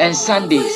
and Sundays.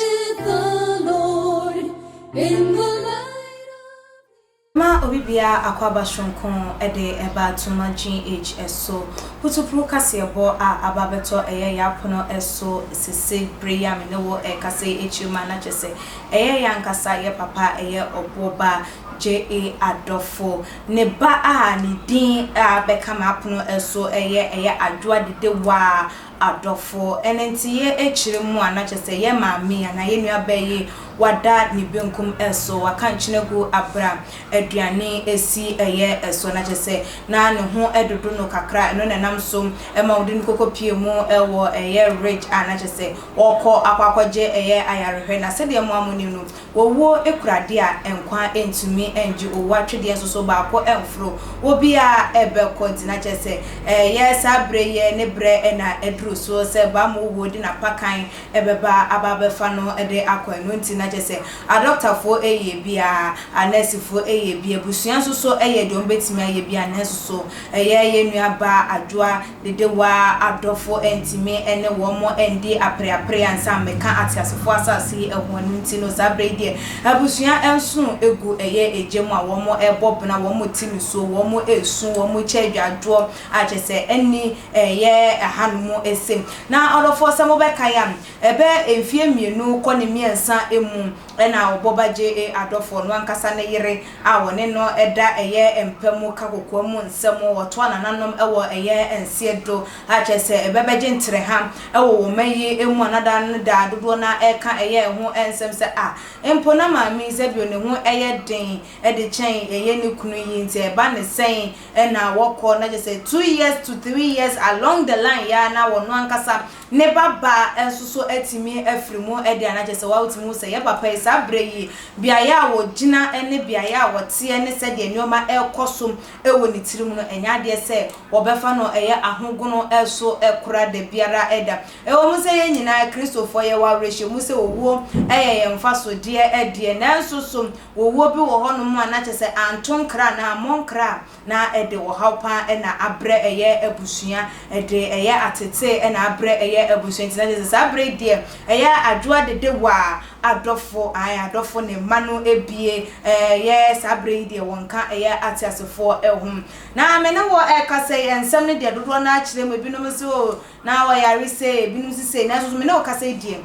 Ma obi biara akwaaba soronko de ba Tuma GH so. Putupru kaseɛbɔ a aba bɛtɔ ɛyɛ yɛ apono so sese bere yi a me ne wo rekasa yi akyiri ma na kyerɛ sɛ ɛyɛ yɛ ankasa yɛ papa a ɛyɛ ɔboɔ ba JA Adɔfo. Ne ba a ne din a bɛka ma apono so yɛ ɛyɛ Adwoa Dedewaa adɔfoɔ. Ɛno nti yɛ akyire mu a na kyerɛ sɛ yɛ maame anaa yɛ nua baa yi wada ne benkum so, waka nkyene agu aberɛ a aduane ɛsi yɛ so, na kyerɛ sɛ na ne ho dodo no kakra, ɛno na ɛnam so ma wode no kɔkɔ pie mu wɔ ɛyɛ ridge a na kyerɛ sɛ ɔrekɔ akɔ akɔgye ɛyɛ ayarehwɛ. Na sɛdeɛ mo a monim no, Owuo kura deɛ a nkwa ntumi ngye owuo atwedeɛ nso so baako mforo obiara bɛkɔ nti na kyerɛ sɛ ɛyɛ saa berɛ yi ne berɛ na aduru so sɛ Bam owuo de n'apakan bɛba aba abɛfa no de akɔ ɛno nti na kyerɛ sɛ adɔktafoɔ yɛ bi a anɛɛsefoɔ yɛ bi abusua nso so yɛ deɛ wɔbɛtumi ayɛ bi a nanso so ɛyɛ yɛn nua baa Adwoa Dedewaa adɔfo antumi ne wɔn andi apereapereɛ ansa meka ateasefoɔ asase yi ho ɛno nti no saa berɛ yi deɛ abusua nson gu ɛyɛ egya mu a wɔn rebɔ bena, wɔn rete nisuo, wɔn resu, wɔn rekyɛ adwadwoɔ a kyerɛ sɛ ɛnni ɛyɛ ɛhanom ɛsɛ mu. Na adɔfoɔ sɛ mobɛkae a ɛbɛ mfeɛ mmienu kɔ ne mmiɛnsa mu Ɛna Ɔbɔba JA. Adɔfoɔ no ankasa ne yere a wɔne no da ɛyɛ mpa mu ka kokoa mu nsɛm, wɔtoa nananom wɔ ɛyɛ nseɛ do a kyerɛ sɛ ɛbɛbɛgye ntereha wɔ wɔn mma yi mu a na da no da a dodoɔ no ara ɛreka ɛyɛ ho nsɛm sɛ a mpo na maame Eusebio ne ho yɛ den de kyɛn ɛyɛ ne kunu yi nti ɛba ne sɛn na wɔkɔ na kyerɛ sɛ two years to three years along the line yi ara na wɔn ankasa Ne ba ba nso so atumi afiri mu adi anaa kyerɛ sɛ wotumi hu sɛ yɛn papa yi saa berɛ yi beaeɛ a wɔgyina ne beaeɛ a wɔteɛ ne sɛdeɛ nneɛma rekɔ so wɔ ne tiri mu no ɛnyɛ adeɛ sɛ wɔbɛfa no ɛyɛ ahogono so kora da biara da. Ɛwɔ mu sɛ yɛn nyinaa Kristofoɔ yɛwɔ awerɛhyɛmu sɛ owuo yɛ yɛn mfasodeɛ deɛ nanso so owuo bi wɔ hɔnom a na kyerɛ sɛ anto nkra anaa ammɔ nkra a na ɛde ɔhaw pa ara na abrɛ ɛyɛ abusua, ɛde ɛyɛ atetee na abrɛ ɛyɛ abusua, nti na kyerɛ sɛ saa berɛ yi deɛ ɛyɛ adwo adedewa a adɔfo, ae, adɔfo ne mma no bie, ɛyɛ saa berɛ yi deɛ wɔnka ɛyɛ ateasefoɔ ho. Na me ne wo rekasa yi, nsɛm no deɛ dodoɔ no ara kyerɛ mu, ebinom se oo na ɔyare sei, ebinom se sei, nanso me ne wo rekasa yi deɛ,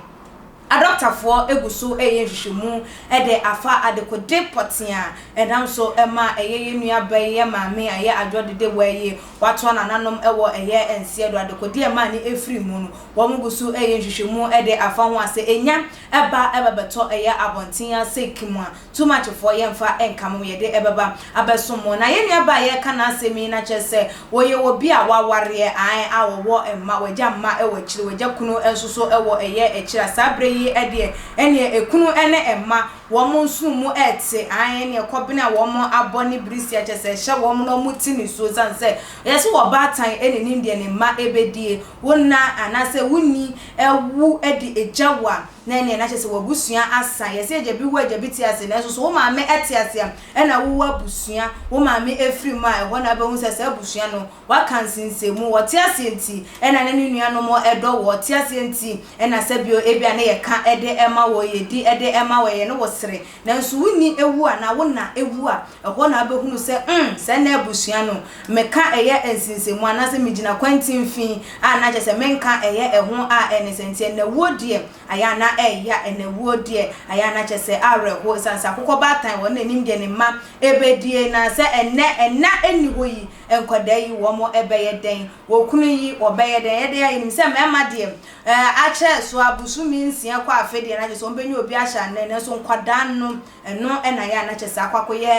Adɔktafoɔ gu so reyɛ nhwehwɛmu de afa adekode pɔtee a ɛnam so ma ɛyɛ yɛn nuaba yi yɛ maame a ɛyɛ adwoɔ dede wa yi watoa nananom wɔ ɛyɛ nseɛ do adekode a ɛma ne firi mu no wɔn gu so reyɛ nhwehwɛmu de afa ho a sɛ ɛnya ba bɛbɛtɔ ɛyɛ abɔnten ase kmua. too much foɔ yɛnfa nka mo yɛde ɛbɛba abɛsom mo na yɛn nua baa yɛreka n'asɛm yi no akyerɛ sɛ ɔyɛ obi a wawareɛ ae a ɔwɔ mma wagya mma wɔ akyire wagya kunu nso so wɔ ɛyɛ akyire a saa berɛ yi deɛ ɛneɛ ɛkunu ne ɛmma wɔn nsono mu ɛte ae ɛneɛ kɔbene a wɔn abɔ ne birisi akyɛ sɛ ɛhyɛ wɔn na wɔn te nisuo sane sɛ yɛse wɔ baatan ne nim deɛ ne mma ɛbɛdie wo nna anaasɛ wo ni awu de agya wo a Na ɛneɛ na kyerɛ sɛ w'abusua asa. Yɛse agya bi wu a agya bi te ase, nanso so wo maame te ase a, ɛna wowɔ abusua. Wo maame afiri mu a, ɛhɔ na wobɛhu sɛ saa abusua no, w'aka nsensɛnmu. Wɔte aseɛ nti ɛna ne ne nuanom dɔ woɔ. Wɔte aseɛ nti ɛna sɛbio ebia ne yɛka de ma wɔ, yɛdi de ma wɔ, yɛne wo sere. Nanso wo ni awu anaa wo nã awu a, ɛhɔ na wobɛhunu sɛ, mm, sɛ na abusua no meka ɛyɛ nsensɛnmu anaasɛ megyina kwan mfinimfini a, na kyerɛ sɛ menka ɛyɛ ɛho a ɛne sɛ. Nti ɛna wuo deɛ, ayɛ a na ɛya, ɛna wuo deɛ, ayɛ a na kyerɛ sɛ awerɛhoɔ, ɛsiane sɛ akokɔbaatan wɔ n'anim deɛ ne mma ɛbɛdie, na sɛ ɛnnɛ ɛna nni hɔ yi, nkwadaa yi wɔn ɛbɛyɛ dɛn? Okunu yi ɔbɛyɛ dɛn? Ɛyɛ dɛn a yɛnim sɛ mmarima deɛ, Akyɛɛ so a bosome nsia kɔ afe deɛ na kyɛ sɛ wɔbɛnya obi ahyɛ anan nanso nkwadaa no ɛno na yɛ a na kyɛ sɛ akɔ akɔyɛ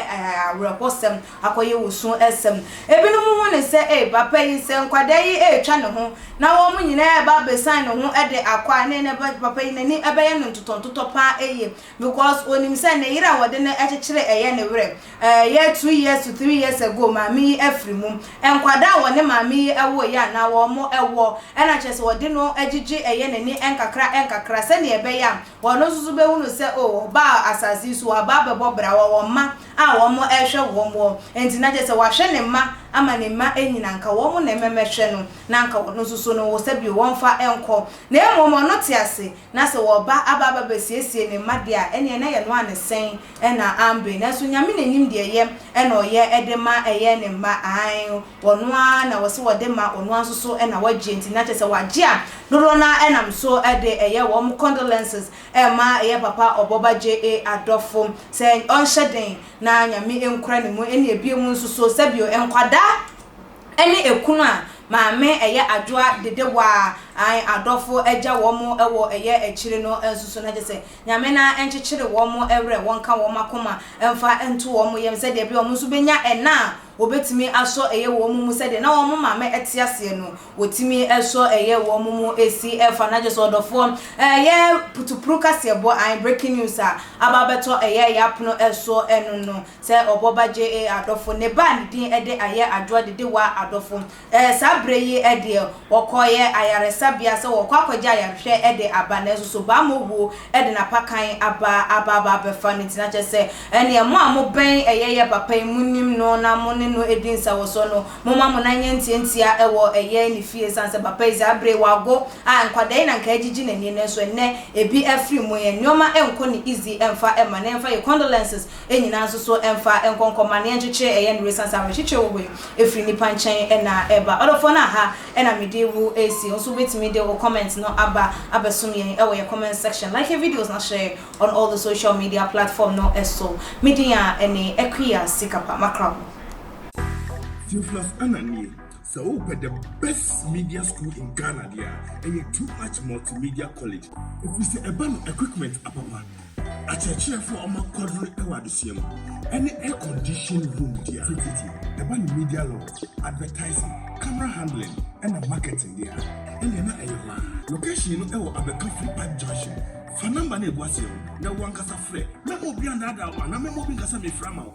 awerɛhosɛm akɔyɛ wosu sɛm ebinom hu ne sɛ ee papa yi sɛ nkwadaa yi retwa ne ho na wɔn nyinaa ɛba abɛsan ne ho de akɔ a ne papa yi n'ani bɛyɛ no ntotɔntotɔ paa yie because onim sɛ ne yere a wɔde no kyekyere ɛyɛ ne werɛ Ɛyɛ two years to three years ago maame yi afiri mu. Nkwadaa a wɔne maame yi wooeɛ a na wɔn wɔ na kyerɛ sɛ wɔde no gyegye ɛyɛ n'ani nkakra nkakra sɛdeɛ ɛbɛyɛ a ɔno nso so bɛhunu sɛ oh ɔbaa asase yi so waba abɛbɔ bra wɔwɔ mma a wɔn rehwɛ wɔn wɔ nti na kyerɛ sɛ wahwɛ ne mma ama ne mma anyin anka wɔn na ɛmɛmɛhwɛ no na anka ɔno nso so no sɛbio wɔmfa nkɔ na mmom ɔno te ase Na sɛ wɔba aba aba bɛsiesie ne mma deɛ a, ɛneɛ na yɛ noa ne sɛn na ambre, nanso Nyame na nim deɛ yɛ na ɔyɛ de ma ɛyɛ ne mma, ae, ɔno ara na wɔse wɔde ma, ɔno ara nso so na wɔgye, nti na kyerɛ sɛ wɔagye a dodoɔ no ara nam so de ɛyɛ wɔn condolences ma yɛ papa Ɔbɔba JA adɔfo sɛ ɔnhyɛ den na Nyame nkura ne mu, ɛneɛ bio mu nso so sɛbio nkwadaa. Ɛne ɛkunu a maame ɛyɛ adwoa dede waa an adɔfo agya wɔn wɔ ɛyɛ akyire no nsoso na kyesɛ Nyame na nkyekyere wɔn werɛ wɔnka wɔn akoma mfa nto wɔn yam sɛdeɛ ɛbɛyɛ wɔn nso bɛnya ɛna a wɔbɛtumi asɔ ɛyɛ wɔn mu sɛdeɛ na wɔn maame ɛte aseɛ no wɔtumi sɔ ɛyɛ wɔn mu si fa na kyesɛ ɔdɔfoɔ ɛyɛ putupru kaseɛbɔ an breaking news a aba abɛtɔ ɛyɛ yɛn apono soɔ ɛno no Sɛ ɔbɔ ba gye e adɔfo. Ne ba a ne din de Ayɛ Adwoa de di wa adɔfo. E saa bere yi deɛ, wɔkɔeɛ ayaresabea sɛ wɔrekɔ akɔgye ayarehwɛ de aba. Nanso so baa mo wuo de n'apakan aba aba aba abɛfa no nti? Na kyerɛ sɛ, ɛnneɛ mo a mobɛn ɛyɛyɛ papa yi, monim no na mo ne no di nsawɔsoɔ no, momma mo nan nyɛ ntiantia wɔ ɛyɛ ne fie, ɛsiane sɛ papa yi saa bere yi wago a nkwadaa yi na anka agyigye n'ani. Nanso ɛnnɛ, ebi afiri mu. Yɛn nneɛma nkɔ ne easy mfa mma no. Yɛmfa yɛn condolences. nyinaa nso so mfa nkɔnkɔmmaneɛ nkyekyere ɛyɛ nnere sane sɛ awerɛkyekyerɛ wɔ hɔ yi ɛfiri nnipa nkyɛn na ɛba ɔdɔfoɔ no aha na mede wo ɛsi wo nso wobɛtumi de wo comment no aba abɛsom yɛn wɔ yɛn comment section like yɛn videos na share on all the social media platform no so me din a ɛne Akua Sikapa Makraw. Theophilus Annan nie. Sɛ wopɛ the best media school in Ghana deɛ a, ɛyɛ Too Much Multimedia College. Ɛfiri sɛ ɛba no equipment apapa, akyerɛkyerɛfoɔ a wɔakwadwene wɔ adesua mu, ɛne air conditioned room deɛ a tititi. Ɛba no media law, advertising, camera handling ɛna marketing deɛ a, ɛnneɛ na ɛyɛ hɔ ara. Location no wɔ Abɛka Free Park Junction. Fa number no a ɛgu aseɛ no na wo ankasa frɛ. Mɛma obiara nnaadaa wo anaa mɛma obi nka sɛ merefrɛ ama wo.